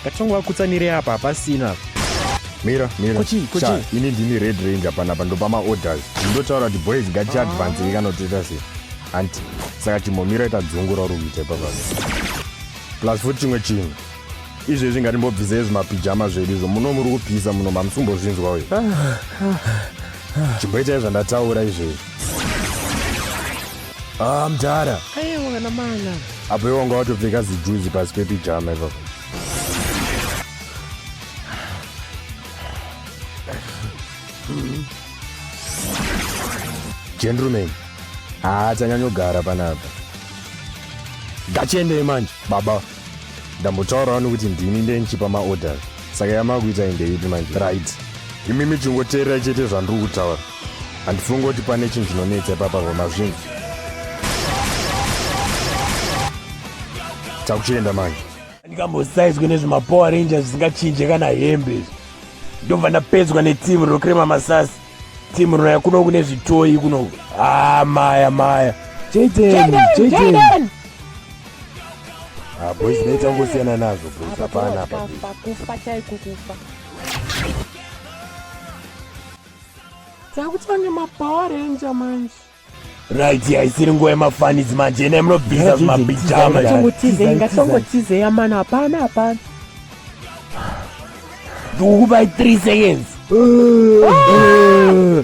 Ngatisongovakutsanirei apa hapasina apa. Mira, mira. Kochi, kochi. Sha, ini ndini red ranger panapa ndopama orders. Ndotaura kuti boys ngati advance ah. ikanotoita sei. Anti, saka chimomira ita dzungura uri kuita ipapa. Plus futi chimwe chinhu. Izvezvi ngatimbobvisei zvimapijama zvedu izvo muno muri kupisa muno mamusumbozvinzwa uyu. Ah, ah, Chimboitai zvandataura izvezvi. Ah, mdara. Hey, mwana mwana. Apo iwe wanga watopfeka zijuzi pasi pepijama ipapo. Gentleman. Ah, tanyanyogara panapa. Ngachiendei manje, baba. Ndambotaurawo nokuti ndini ndenchipa maorders. Saka yamakuita indeyipi manje? Right. Imimi chingoteerai chete zvandiri kutaura. handifungi kuti pane chinhu chinonetsa ipapa vamazvinzi takuchienda manje ndikambosaizwe nezvemapower ranger zvisingachinje kana hembe izvi ndobva ndapedzwa netimu rinokrema masasi timu rinaya kuno kune zvitoyi kuno haa ah, maya maya jaden jaden ah, boys naita kungosiyana nazvo boys hapana apa kufa chaiko kufa dzakutanga mapower ranger manje right haisiri nguva yemafanidzi manje ene munobvisa zvimabijamatongotizeya mani hapana hapana ndikukupai three seconds ah!